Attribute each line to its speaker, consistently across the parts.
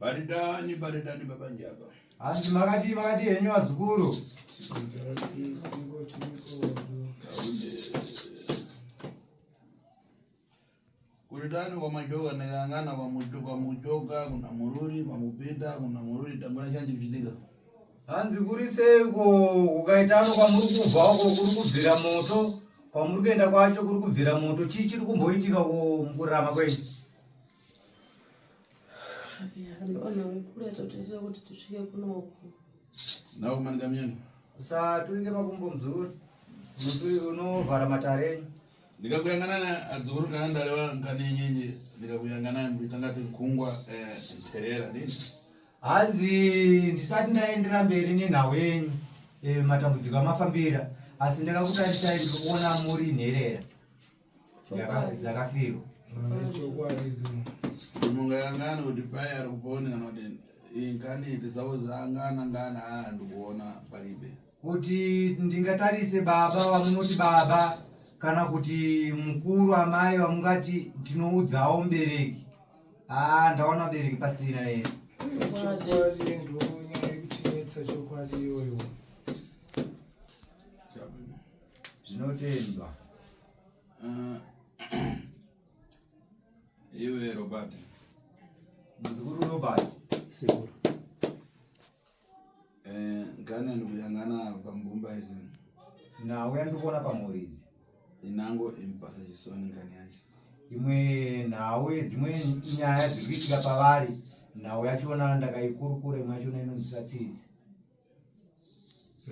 Speaker 1: Paridani, paridani baba njaba. Asi makati
Speaker 2: makati henyu wazukuru.
Speaker 1: Kuritani kwa majoka nekangana kwa mujoka mujoka kuna mururi kwa mupita kuna mururi tambura chanji kuchitika. Hanzi
Speaker 2: kuri seiko ukaitano kwa muri kubva uko kuri kubvira moto kwa muri kuenda kwacho kuri kubvira moto chii chiri kumboitika mukurarama kwenyu.
Speaker 1: usaturike
Speaker 2: makumbo mzuri mutu unovhara matareni ndikakuyangana
Speaker 1: naye adzukuru kana ndareva nkanenyenye ndikakuyangana naye nditanga tikungwa mperera eh, nini hanzi
Speaker 2: ndisati ndaendera mberi nenhau yenyu eh, matambudziko amafambira asi ndakakutarisai ndikuona muri nherera dzakafirwa
Speaker 1: mungayangana kuti pai ari kuponi kana kuti inkaniti zavo zangana ngana haa ndikuona palibe kuti
Speaker 2: ndingatarise baba vamunoti baba kana kuti mukuru amai vamungati ndinoudzawo mubereki haa ndaona mubereki pasina here zvinotendwa uh,
Speaker 1: iwe robert
Speaker 2: muzukuru robert sekuru
Speaker 1: eh, ngane ndikuyangana pambumba izi nauya
Speaker 2: ndikuona pamhuri idzi inango
Speaker 1: impasa chisoni ngani yacho imwe
Speaker 2: nhau dzimwe nyaya dziri kuitika pavari nhau yacho ona ndakaikurukura imwe yacho ona inonzwisa tsitsi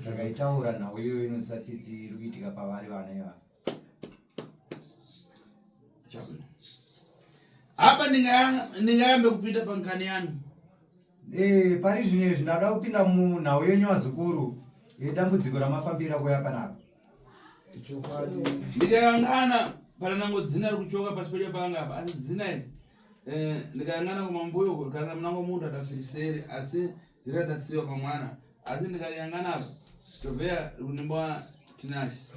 Speaker 2: zvakaitaura nhau iyoyo inotsa tsitsi iri kuitika pavari vana ivana
Speaker 1: apa ndingarambe kupinda pankani yanu ee eh,
Speaker 2: pari zvino izvi ndada kupinda munhau yenyu vazukuru yedambudziko ramafambira kuya panapa
Speaker 3: ndikayangana
Speaker 1: pana nango dzina ri kuchoka pasi pedya panga apa asi dzina iri eh, ndikayangana kumambuyo kurikana munango munhu adafiriseri asi dzakatatsiwa pamwana asi ndikayangana apa tobveya kunemba tinasi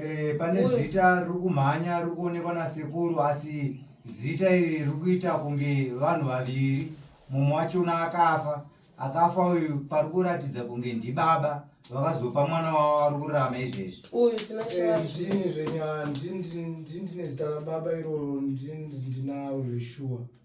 Speaker 4: eh, pane zita
Speaker 2: riri kumhanya riri kuonekwa nasekuru asi zita iri riri kuita kunge vanhu vaviri mumwe wachona akafa akafa uyu pari kuratidza kunge ndibaba vakazopa mwana wavo ari kurama izvezvi uyu tinazvii
Speaker 4: zvenyaya
Speaker 3: ndine zita rababa iroro ndinawo zveshuwa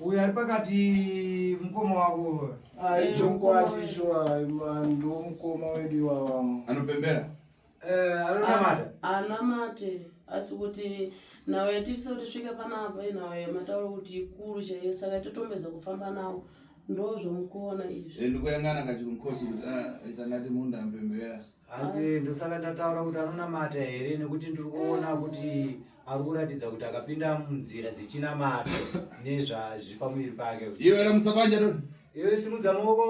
Speaker 1: uyo ari
Speaker 2: pakati mukoma wavo aichokwadi
Speaker 3: shuwa ndo mukoma wedu iwawa anopembera
Speaker 1: eh,
Speaker 2: anonamata ah, anamate
Speaker 4: asi kuti nhau yatiisa kuti svika panapa inhau yamataura kuti ikuru chaiyo saka totombedza kufamba nawo ndozvomukuona izvi eh, ndikoyangana kachiri mukosi
Speaker 1: kuti ah, itangati munhu ampembera hanzi ndosaka
Speaker 2: ndataura kuti anonamata here nekuti ndiri kuona kuti ari kuratidza kuti akapinda munzira dzechinamato nezvazvi pamuviri pake iwe era musabanja toni
Speaker 1: iwe simudza maoko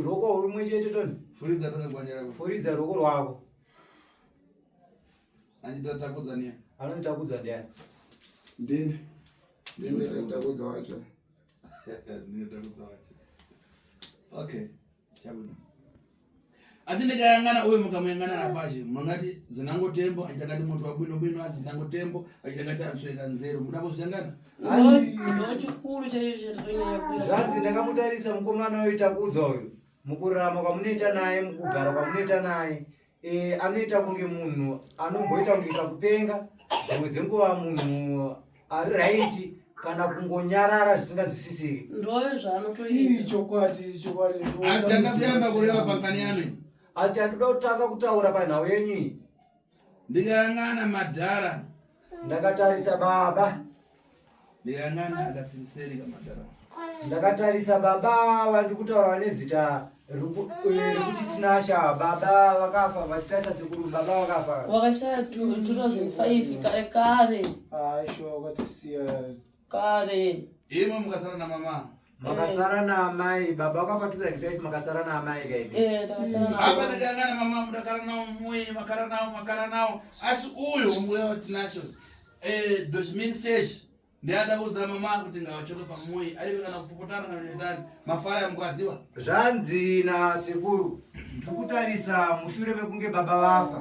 Speaker 2: roko rumwe chete toni furidza toni gwanya rako
Speaker 1: furidza roko rwako anditakudza niya anonditakudza ndiani
Speaker 2: ndini
Speaker 3: ndini takudza wacho
Speaker 1: ndini takudza wacho okay chabuda asi ndikayangana uyo mukamuyangana rapazhe munongati zinango tembo achitangati muntu wabwino bwino asi zinango tembo achitangati answeka nzero muda kuzvitangana
Speaker 4: chikuru chaizvezvanzi ndakamutarisa
Speaker 2: mukomana uyo takudza uyo mukurarama kwamunoita naye mukugara kwamunoita naye eh, anoita kunge munhu anomboita kunge kakupenga dzimwe dzenguva munhu ari raiti kana kungonyarara zvisingadzisisiri ndove zvaanotoita
Speaker 4: chokwadi chokwadi
Speaker 3: asi
Speaker 1: akasiyamba kureva pakaniyani asi andida
Speaker 2: kutanga kutaura panhau yenyu iyi
Speaker 1: ndikayang'ana madhara ndakatarisa
Speaker 2: baba
Speaker 1: ndikayang'ana akafiriseri kamadhara ndakatarisa
Speaker 2: baba vandikutaura nezita rekuti tinasha baba vakafa vachitarisa sekuru baba vakafa wakashaya tura
Speaker 4: zvifaifi kare kare aisho
Speaker 3: wakatisiya kare
Speaker 4: imwe mukasara
Speaker 1: namama makasara
Speaker 2: naamai baba wakafa 2005 makasara naamai kaidaaaaana
Speaker 4: mama
Speaker 1: mudakara nawo muye makara nawo makara nawo asi uyo mbuya watinacho dozimini sechi Ndiyada kuudzira mama kuti ngavachoke pamoyi aive kana kupopotana kana kuendani mafara yamukwadziwa. Zvanzi
Speaker 2: nasekuru tikutarisa mushure mekunge baba vafa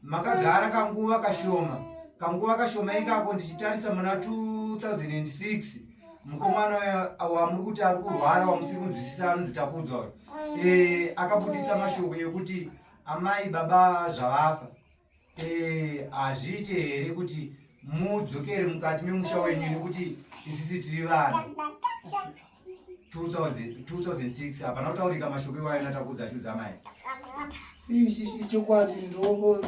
Speaker 2: makagara kanguva kashoma kanguva kashoma ikako ndichitarisa muna 2006 mukomana wamuri kuti ari kurwara wamusiri kunzwisisa anonzi takudzwa uyo e, akabuditsa mashoko ekuti amai baba zvavafa Eh, hazviite here kuti mudzokere mukati memusha wenyu nekuti isisi tiri vanhu 2006 hapana kutaurika mashoko iwayo natakudza achudza mai ichokwadi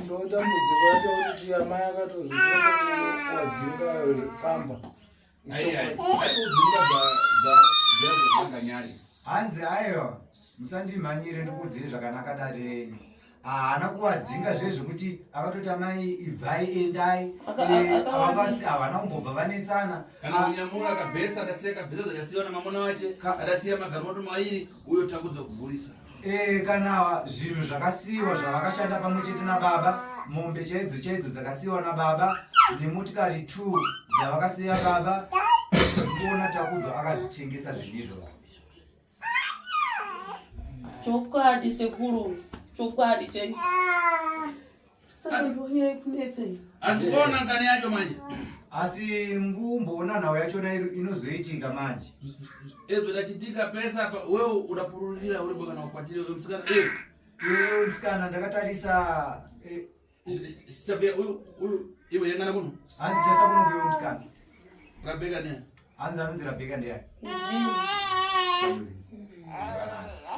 Speaker 3: ndodambudziko yacho kuti amai akatozviadzinga pamba
Speaker 2: hanzi aiwa musandimhanyire ndikuudzire zvakanaka dare renyu haana kuwadzinga zve zvekuti akatoti amai ibvai endai avapasi havana kumbobva vanetsana nyamura
Speaker 1: akabhesa akasiya kabhesa dzakasiwa namamona wache akasiya magarimoto mairi uyo takudzo kugurisa e, kana
Speaker 2: zvinhu zvakasiyiwa zvavakashanda pamwe chete nababa mombe chaidzo chaidzo dzakasiyiwa nababa nemotikari t dzavakasiya baba kuona takudzwa akazvitengesa zvinhu izvo baba
Speaker 4: chokwadi sekuru chokwadi chai asi kuona ngani
Speaker 1: yacho manje asi
Speaker 2: mbumboona nhau yachona inozoitika manje ezvodachitika
Speaker 1: pesa wewe udapururira uripo kana ukwatire uyo musikana eh. uyo
Speaker 2: musikana ndakatarisa
Speaker 1: eh. sabia uyu uyu iwe yangana kuno hanzi chasa kuno kuyo
Speaker 2: musikana rabeka ne
Speaker 1: hanzi anonzi rabeka
Speaker 2: ndeya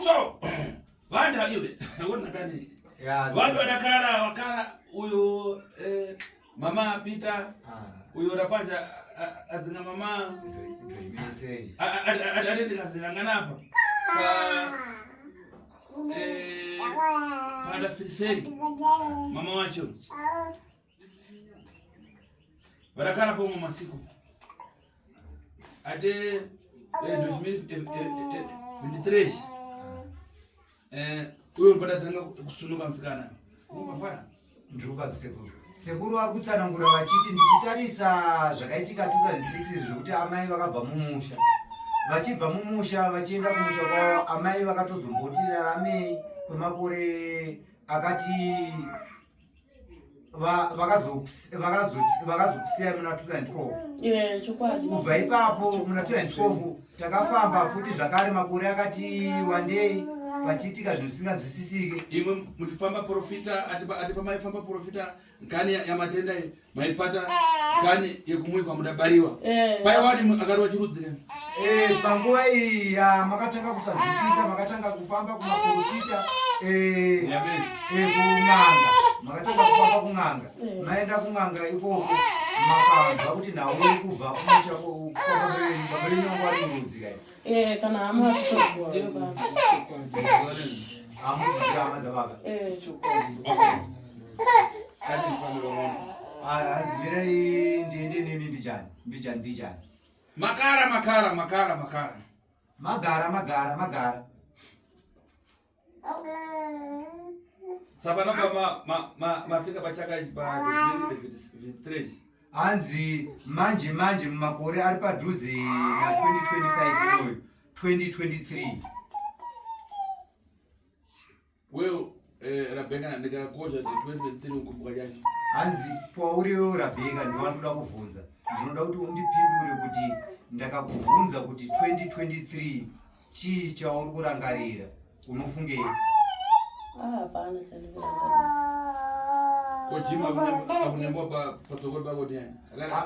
Speaker 1: so Vanda iwe. Wona kani. Yes. Vandu wanakara wakara uyo eh, mama Peter. Ah. Uyo rapaja adzinga mama. Ndozvimesei.
Speaker 2: Ade
Speaker 1: ndikazira ngana apa. Pa eh. Pada filiseri. Mama wacho. Ah. varakara pomwe masiku ate 2023 uyo mbodatanga kusunuka musikana njuka
Speaker 2: sekuru sekuru vari kutsanangura vachiti ndichitarisa zvakaitika 2006 zvekuti amai vakabva mumusha vachibva mumusha vachienda kumusha kwavo amai vakatozomboti raramei kwemakore akati vakazokusiya muna 2012 kubva
Speaker 4: ipapo
Speaker 2: muna 2012 takafamba futi zvakare makore akati wandei pachiitika zvinhu zvisinganzwisisike imwe muchifamba
Speaker 1: profita ati pamaifamba profita nkani yamatenda maipata nkani yekumuikwa mudabariwa eh. paiwani akarova chirudzikani Eh, panguva
Speaker 2: iyi ya makatanga kusadzisisa makatanga kufamba kumaporofita eh, eh, kun'anga makatanga kufamba kun'anga maenda kun'anga ikoko makanzwa kuti nhau iri kubva kumusha kwababerenyongwarimurudzika eh, kana hama
Speaker 4: hamuziva
Speaker 2: hama dzababa hanzi mirai ndiende nemi mbijani mbijani mbijani Makara
Speaker 1: makara makara makara.
Speaker 2: Magara magara magara.
Speaker 1: Saka napa ma ma ma mafika pachaka pa village. Anzi
Speaker 2: manje manje mumakore ari padhuze na 2025 iyoyo
Speaker 1: 2023. Well, eh, Rabeka ndikakosha ti 2023 ukumbuka chani? Hanzi pauri
Speaker 2: wewe Rabeka ndiwandoda kuvhunza. Ndinoda kuti undipindure kuti ndakakuvhunza kuti 2023 chii chauri kurangarira? Unofungei?
Speaker 1: Ah, hapana chandikurangarira.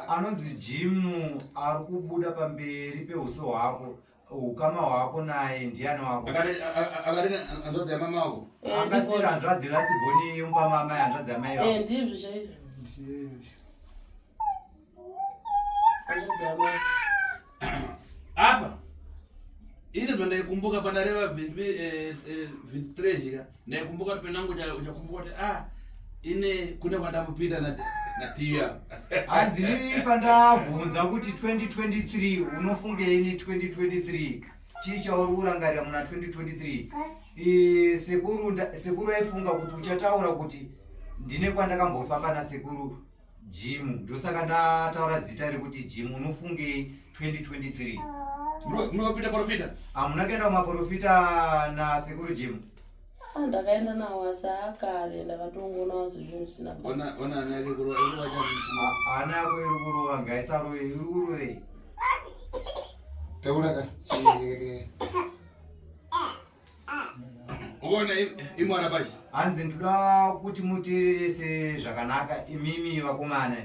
Speaker 1: anonzi
Speaker 2: jimu ari kubuda pamberi peuso hwako ukama hwako naye ndiani wako akati
Speaker 1: hanzvadzi yamama wako eh, angasiri hanzvadzi
Speaker 2: lasiboni yomba mama hanzvadzi yamai vako eh,
Speaker 4: ndizvo chaizvo
Speaker 1: apa ini zvandaikumbuka pandareva 23 eh, zvika Naikumbuka kuti penangu uchakumbuka kuti ah ine kune kwandambopinda na natiya. Hanzi nini
Speaker 2: pandabvunza kuti 2023 unofungei ni 2023 chii chauri kurangarira muna 2023 eh, sekuru sekuru aifunga kuti uchataura kuti ndine kwandakambofamba nasekuru Jim ndosaka ndataura zita rekuti Jim unofungei 2023 munopita
Speaker 1: porofita hamuna ah, kuenda
Speaker 2: kumaporofita nasekuru Jim ah, ndakaenda
Speaker 4: nawo asi akare ndakatongonawo sezvinhu zvisina ona ana yake
Speaker 1: kurova ah, ana
Speaker 2: yako iri kurova ngaisarove iri kurovei
Speaker 3: taura ka
Speaker 1: ukaona imwana pachi hanzi ndoda
Speaker 2: kuti muteererese zvakanaka imimi vakomana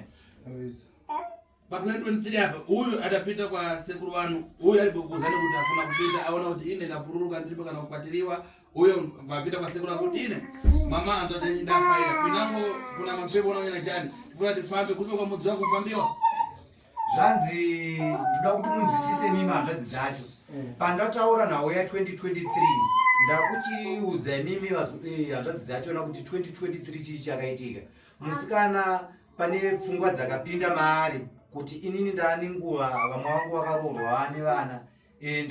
Speaker 1: pa 2023 apa uyu atapita kwa sekuru wanu uyu ari kukuza nekuti afuna kupita aona kuti ine ndapururuka ndiripo kana kukwatiriwa uyo vapita kwa sekuru akuti ine mama anzvatendafaira pinapo kuna mapepo unaoena chani funa tifambe kupe kwa mudzi wako kufambiwa zvanzi
Speaker 2: ndoda kuti munzwisise mimi hanzvadzi dzacho mm. pandataura nhau ya 2023 ndakuchiudza imimi eh, hanzvadzi dzacho na kuti 2023 chii chakaitika musikana pane pfungwa dzakapinda maari kuti inini ndaane nguva vamwe vangu vakaroorwa vane vana e,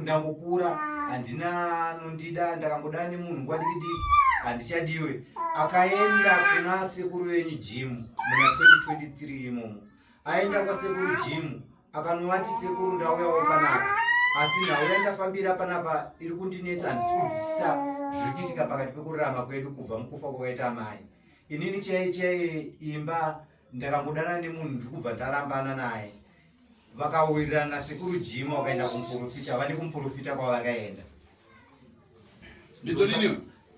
Speaker 2: ndangokura handina anondida ndakangodana nemunhu nguva diki diki handichadiwe akaenda kuna sekuru venyu jimu muna 2023 imomo aenda kwasekuru jimu akanovati sekuru ndauyawo panapa asi nhau yandafambira panapa iri kundinetsa handisikudzisa zviri kuitika pakati pekurarama kwedu kubva mukufa kwakaita amai inini chaiye chaiye imba ndakangodana nemunhu ndiri kubva ndarambana naye vakawirirana nasekuru jima wakaenda kumuporofita vane kumuporofita kwavakaenda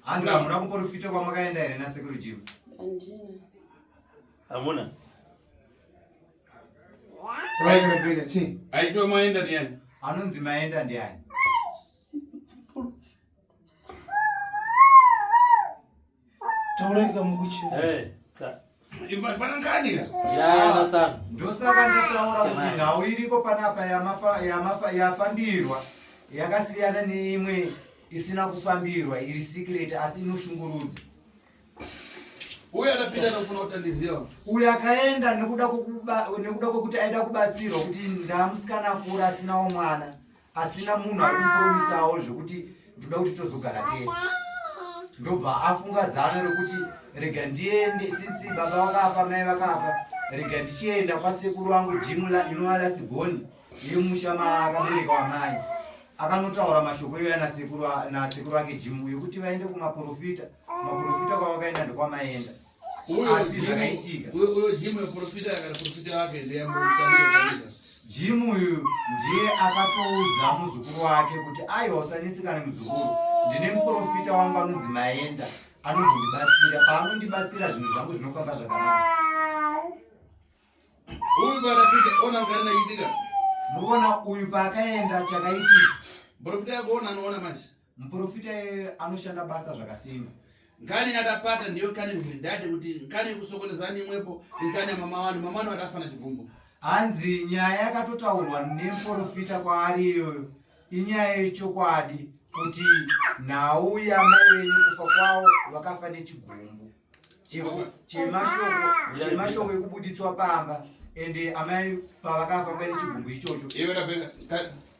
Speaker 1: hanzi hamuna
Speaker 2: kuporofita kwamakaenda here nasekuru jima
Speaker 1: hamuna
Speaker 3: aitwa maenda ndiani
Speaker 1: anonzi maenda
Speaker 2: ndiani
Speaker 3: Taureka mukuchi.
Speaker 1: Eh.
Speaker 2: Ndosaka ndataura kuti nhau iriko panapa yafambirwa yakasiyana neimwe isina kufambirwa iri secret asi inoshungurudza
Speaker 1: uyo anapinda nofuna kutandiziva uyo akaenda
Speaker 2: nekuda kwekuti aida kubatsirwa kuti ndamusikana akura asinawo mwana pasina munhu ari kupromisawo zvekuti ndoda kuti tozogara tese ndobva afunga zano rekuti rega ndiende since baba vakafa mai vakafa rega ndichienda kwasekuru vangu jimu inova last born yemusha maakabereka wamai akanotaura mashoko iyoya nasekuru vake jimu yekuti vaende kumaprofita maprofita kwavakaenda ndokwamaenda uyo jimu yeprofita
Speaker 1: kana profita wake ndeyamutaaa jimu
Speaker 2: uyu ndiye akatoudza muzukuru wake kuti aiwa usanesekana muzukuru ndine muprofita wangu anonzi maenda anozondibatsira paanondibatsira zvinhu zvangu zvinofamba zvakanaka
Speaker 1: uyu paakapita ona kugari naitika muona
Speaker 2: uyu paakaenda chakaitika muprofita yako
Speaker 1: ona anoona manje Muporofita iye
Speaker 2: anoshanda basa zvakasimba. Nkani yadapata
Speaker 1: ndiyo nkani mhiridade kuti nkani kusokoneza neimwepo nkani yamama wanu mama wanu wadafana chigumbu. Hanzi nyaya
Speaker 2: yakatotaurwa nemuporofita kwaari iyoyo inyaya yechokwadi kuti nhau yamai venyu kufa kwavo vakafa nechigumbu chemashoko ekubuditswa pamba ende amai pavakafa kwaine chigumbu ichocho.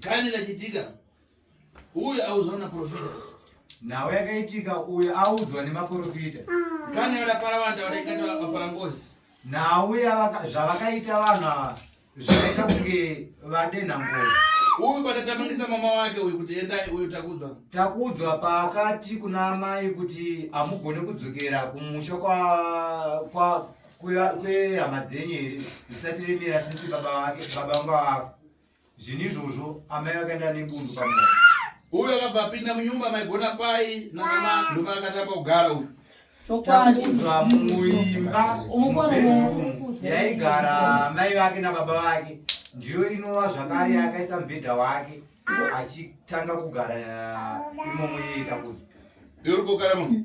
Speaker 1: Gani lachitika uyo audzwa naprofita
Speaker 2: nhau yakaitika uyo audzwa nemaprofita gani ah. varapara
Speaker 1: vanhu tavadaikati vapara ngozi nhau
Speaker 2: zvavakaita vanhu ava zvakaita kunge vadenha ngozi uyu patatamangisa
Speaker 1: mama wake uyu kuti endai uyu takudzwa takudzwa
Speaker 2: paakati kuna amai kuti hamugone kudzokera kumusha kwa, kwa kwehama dzenyu here zisati remera sinsi baba vake baba vanga vafa zvinhu izvozvo amai vakaenda nebundu pamoyo uyu akabva
Speaker 1: apinda munyumba maigona pai nanamanduma akatamba kugara uyu takuudzwa
Speaker 2: muimba yaigara mai vake nababa vake ndiyo inova zvakare yakaisa mubhedha wake achitanga kugara imomo yeyitakudzwa yorikokara
Speaker 1: munhu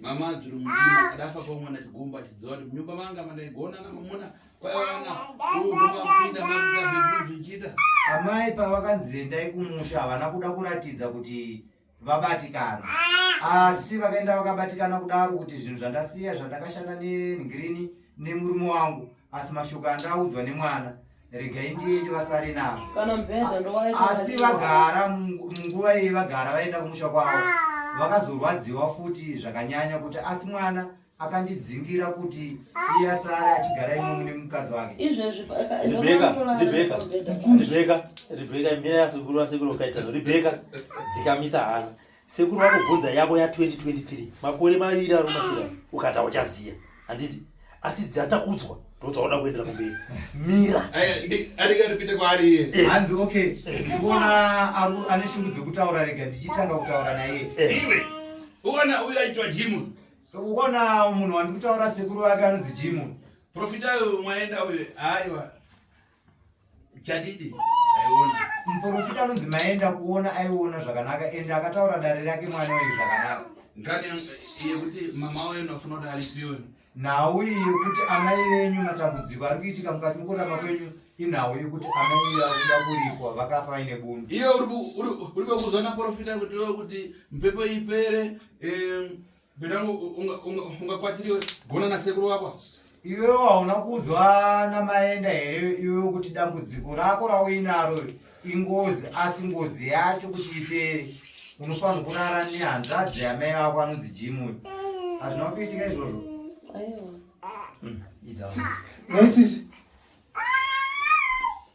Speaker 1: mama dzvuru mutima adafa kwamwana chigumbu achidziva kuti munyumba manga mandaigona namamuna kwayawana uumapinda makuaeuzvichita amai
Speaker 2: pavakanzi endai kumusha havana kuda kuratidza kuti vabatikana asi vakaenda vakabatikana kudaro kuti zvinhu zvandasiya zvandakashanda nengirini nemurume wangu asi mashoko andaudzwa nemwana regai ndiende vasare nazvo asi vagara munguva iyi vagara vaenda kumusha kwavo vakazorwadziwa futi zvakanyanya kuti asi mwana akandidzingira kuti iye asare achigara imomu nemukadzi wake
Speaker 5: rebeka imira yasekuru vasekuru kaitano rebeka dzikamisa hana sekuru vakubvunza yako ya 2023 makore maviri ari kumasira ukata uchaziya handiti asi dzatakudzwa ndodzaoda kuendera kumberi mira adikatipinde
Speaker 1: kwaari iye eh. hanzi okay eh.
Speaker 2: ndikuona ane shungu dzekutaura rega ndichitanga kutaura naye eh. iwe
Speaker 1: uona uyo aitwa jimu uona
Speaker 2: munhu wandikutaura sekuru vake anonzi jimu profita uyo
Speaker 1: mwaenda uyo aiwa chadidi aiona muprofita anonzi
Speaker 2: maenda kuona aiona zvakanaka ende akataura dare rake mwana uyu zvakanaka ngati
Speaker 1: yekuti mama uyo ndafuna kuti aripiwe nhau iyi
Speaker 2: yekuti amai venyu matambudziko ari kuitika mukati mukurama kwenyu inhau yekuti amai iyo akuda kuripwa vakafa vaine bundu iyo
Speaker 1: uri kuzona profita kuti kuti mhepo ipere Bedango ungakwatiriwe gona na sekuru wako. Iwe waona
Speaker 2: kudzwa na maenda here iwe kuti dambudziko rako rauinaro ingozi asi ngozi yacho kuti ipere unofanira kurara ne hanzvadzi ya mai wako anonzi Jimu. Hazvina kuitika izvozvo. Aiwa.
Speaker 3: Hmm, Idza. Sisi.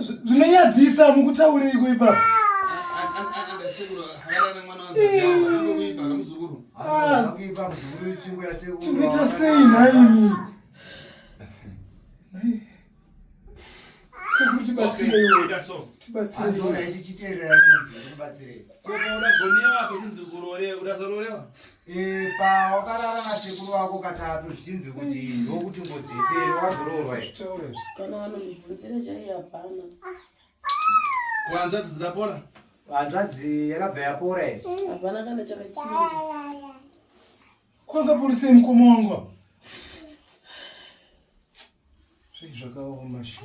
Speaker 3: zvinonyadzisa mukutaureiko ipapo tinoita sei nhaimi tibatsireiichiteerera
Speaker 2: Eh, pa wakarara nasekuru wako katatu zvichinzi kuti ndokuti ngozi ipere wazoroorwa kana vanomubvunzira
Speaker 4: chaiye hapana
Speaker 1: kuhanzvadzi dzidapora hanzvadzi
Speaker 2: yakabva yapora i hapana kana chakachinja
Speaker 3: kwakaporisei mukoma wangu apa zvakaoma shu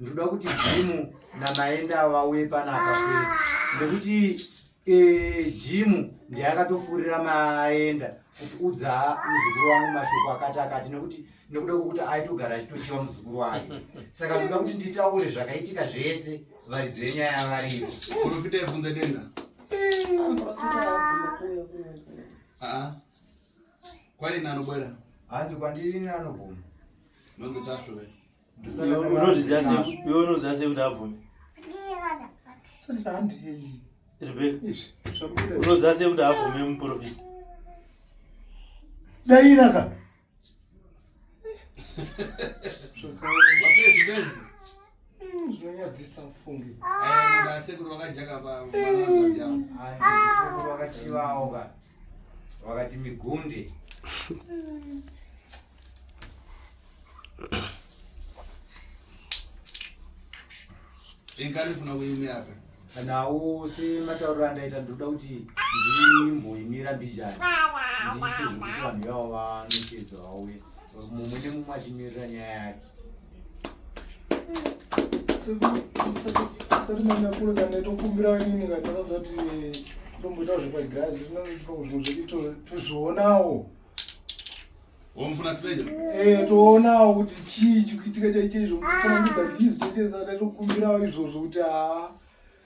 Speaker 2: ndinoda kuti jimu namaenda vauye panapa nekuti eh, jimu ndeyakatofurira maenda kuti udza muzukuru wangu mashoko akati akati nekuti nekuda kwekuti aitogara achitochiva muzukuru wake saka ndinoda kuti nditaure zvakaitika zvese varidzi venyaya varivo profita yebvunza
Speaker 1: denga ah, kwaini anobwera hanzi kwandiri
Speaker 2: anobvuma nonge
Speaker 1: tasvove
Speaker 5: unozviziva sei kuti abvume unoziva sei kuti abvume muprofisa
Speaker 3: dairaka zvinonyadzisa mfunge sekuru
Speaker 1: vakajaka
Speaker 2: pavo wakati migunde
Speaker 1: inkari funa kuimiraka nawo
Speaker 2: sematauriro andaita ndinoda kuti ndimboimira mbijani ndiite zvekuti vanhu ivavo vanoshedzwa vauye mumwe nemumwe achimirira nyaya yake
Speaker 3: sati manyakule kana tokumbira nini kana tinoda kuti ndomboita zvepagirazi tozvionawo wamufuna sipeja
Speaker 1: eh toonawo
Speaker 3: kuti chii chikuitika chaicheizvo mufananidza ndizvo chaitezaa taitokumbirawo izvozvo kuti haa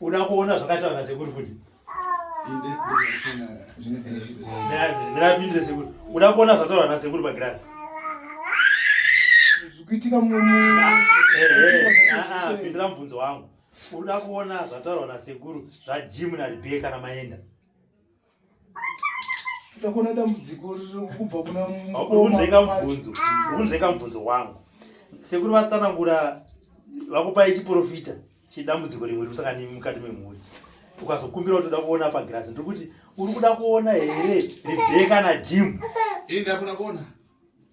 Speaker 5: Uda kuona zvakaita vana sekuru futi. Ndapindire sekuru. Uda kuona zvataura vana sekuru pagirasi.
Speaker 3: Zvikuitika mu
Speaker 5: pindira mubvunzo wangu. Uda kuona zvataura vana sekuru zvaJim naRebecca namaenda.
Speaker 3: takona dambudziko kubva kuna mukomaaunzveka
Speaker 5: mubvunzo wangu sekuri vatsanangura vakupai chiprofita chidambudziko rimwe rikusaka nimi mukati memhuri ukazokumbira kuti uda kuona pagirasi ndiri kuti uri kuda kuona here rebeka najim ndafuna
Speaker 1: kuona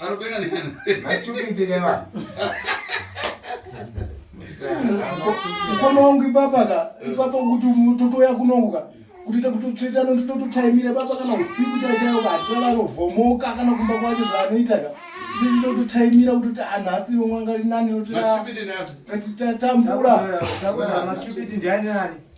Speaker 3: Anopenga nani? Masitupiti kaiwa. Mkono wangu ipapa ka, ipapa kuti mtoto yako unonguka. Kuti takuti tsveta no ndoto taimira baba kana usiku chaichayo ka, tala rovhomoka kana kumba kwacho zvanoita ka. Kuti ndoto taimira kuti anhasi vomwanga linani kuti. Masitupiti nani? Kuti tatambura. Takuzama
Speaker 2: masitupiti ndiani nani?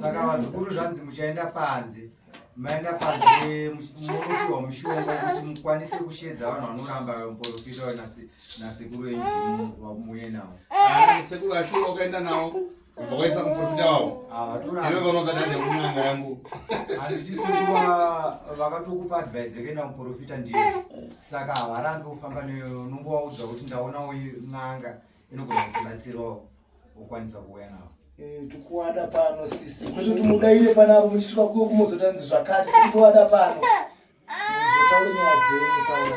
Speaker 2: saka vazukuru zvanzi muchaenda panze maenda panze munopiwa mushonga wekuti mukwanise kushedza vanhu vanoramba muporofita nasekuru enyu vamuye nawo ah, sekuru asi
Speaker 1: wakaenda nawo vakaisa muporofita wavo ah, iwe vanogada neunanga yangu handiti
Speaker 2: sekuru vakatokupa advise yekuenda muporofita ndiyo saka havarambi kufamba neyo unongovaudza kuti ndaonawo n'anga inogona kutibatsirawo ukwanisa kuuya navo eh, tikuwada
Speaker 3: pano sisi kwete kuti mudaire panavo muchisvika kuyo kumozotanzi zvakati tikuwada pano muzotaure nyaya dzenyu pano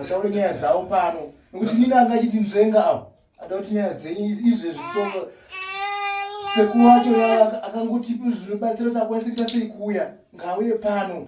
Speaker 3: ataure nyaya dzavo pano nokuti nini anga achindinzvenga avo ada kuti nyaya dzenyu izvezvi so sekuwacho akangotipi zvinobatsira kuti akwanise kuita sei kuuya ngauye pano